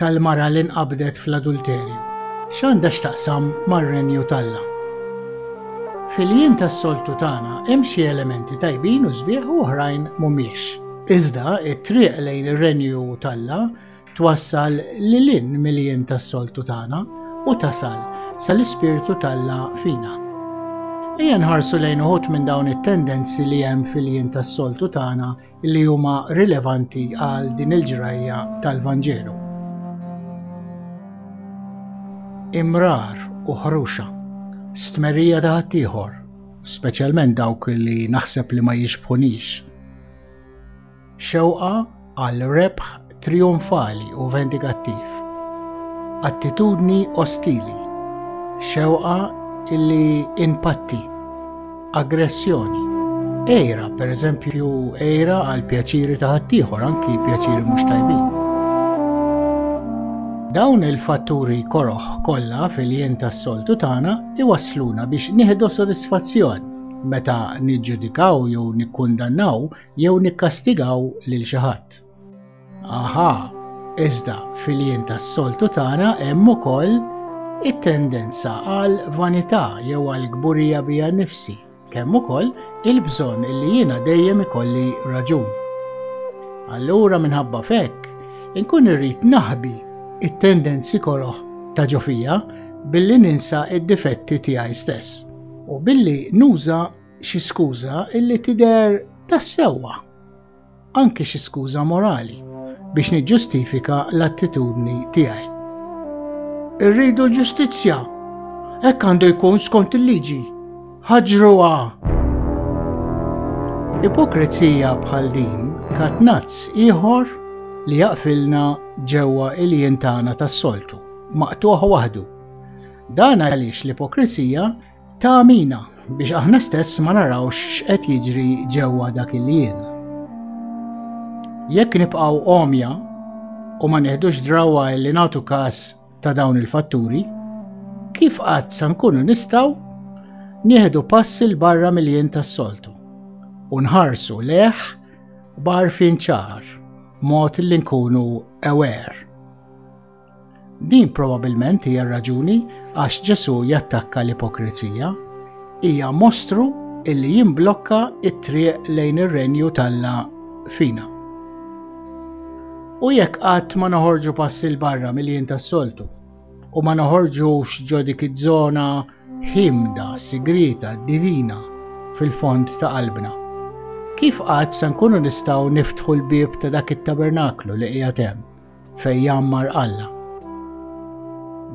tal-mara li nqabdet fl-adulterju x'għandha x'taqsam mar-Renju t'Alla? Fil-jiem tas-soltu tagħna hemm xi elementi tajbin u sbieħ u oħrajn mhumiex. Iżda t-triq lejn ir-Renju t'Alla twassal lil hinn mill-jien tas-soltu tagħna u tasal sal-Ispirtu t'Alla fina. Ejja nħarsu lejn uħud minn dawn it-tendenzi li hemm fil-jien tas-soltu tagħna li huma rilevanti għal din il-ġrajja tal-Vanġelu. Imrar u ħruxa, stmerija ta' ħaddieħor, speċjalment dawk li naħseb li ma jixbħunix. Xewqa għal rebħ Trijonfali u vendikattiv. Attitudni ostili. Xewqa illi inpatti. Aggressjoni. Ejra, per eżempju, ejra għal pjaċiri ta' ħaddieħor, anki pjaċiri mhux tajbin. Dawn il-fatturi koroħ kollha fil-jien tas-soltu tagħna iwassluna biex nieħdu sodisfazzjon meta niġġudikaw jew nikkundannaw jew nikkastigaw lil xi ħadd. Aha, iżda fil-jien tas-soltu tagħna hemm ukoll it-tendenza għal vanità jew għal kburija bija nifsi, kemm ukoll il-bżonn li jiena dejjem ikolli raġun. Allura minħabba fekk, inkun irrid naħbi it-tendenzi koroħ ta' ġofija billi ninsa id-difetti tiegħi stess u billi nuża xi skuża illi tidher tas-sewwa. anki xi skuża morali, biex niġġustifika l-attitudni tiegħi. Irridu l-ġustizzja. Hekk għandu jkun skont il-liġi. Ħaġruha! Ipokrezija bħal din katnazz ieħor li jaqfilna ġewwa il-jien tagħna tas-soltu, maqtuħ waħdu. Dan għaliex l-ipokrizija Ta' għamina biex aħna stess ma narawx x'qed jiġri ġewwa dak il-jien. Jekk nibqgħu għomja u ma neħdux drawa li nagħtu każ ta' dawn il-fatturi, kif qatt sa nkunu nistgħu nieħdu pass il barra mill-jien tas-soltu u nħarsu leħ barfin ċar mod li nkunu aware. Din probabbilment hija r-raġuni għax Ġesù jattakka l-ipokrizija. Hija mostru li jimblokka t-triq lejn ir-Renju t'Alla fina. U jekk qatt ma noħorġu pass 'il barra mill-jien tas-soltu u ma noħorġux ġo dik iż-żona ħimda, sigrieta, divina fil-fond ta' qalbna, kif qatt se nkunu nistgħu niftħu l-bieb ta' dak it-tabernaklu li qiegħed hemm? fejn jgħammar Alla.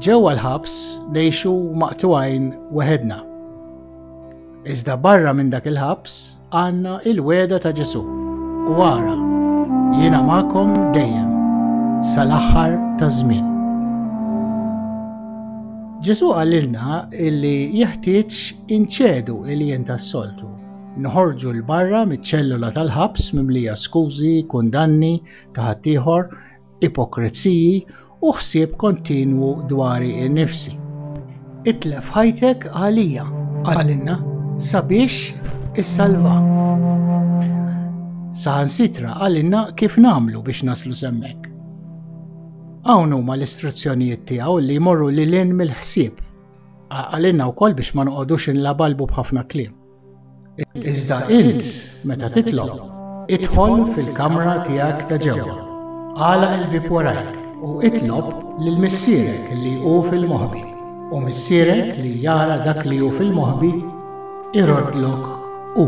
Ġewwa l-ħabs ngħixu maqtugħin weħedna. Iżda barra minn dak il-ħabs għandna il-wegħda ta' Ġesù u ara jiena magħkom dejjem sal-aħħar taż-żmien. Ġesu għalilna illi jeħtieġ inċedu il-jien tas-soltu. Nħorġu l-barra mit-ċellula tal-ħabs mimlija skużi, kundanni, ta' ħaddieħor, ipokreziji u ħsieb kontinwu dwari innifsi. Itlef ħajtek għalija, għalinna, sabiex issalva. Saħansitra għalinna kif namlu biex naslu semmek. Hawn huma l-istruzzjonijiet tiegħu li jmorru lil mill-ħsieb. Għalinna wkoll biex ma noqogħdux inlabalbu b'ħafna kliem. Iżda int, meta titlob, idħol fil-kamra tiegħek ta' ġewwa, agħlaq il-bieb warajk, u itlob lil Missierek li hu fil-moħbi, u Missierek li jara dak li hu fil-moħbi iroddlok hu.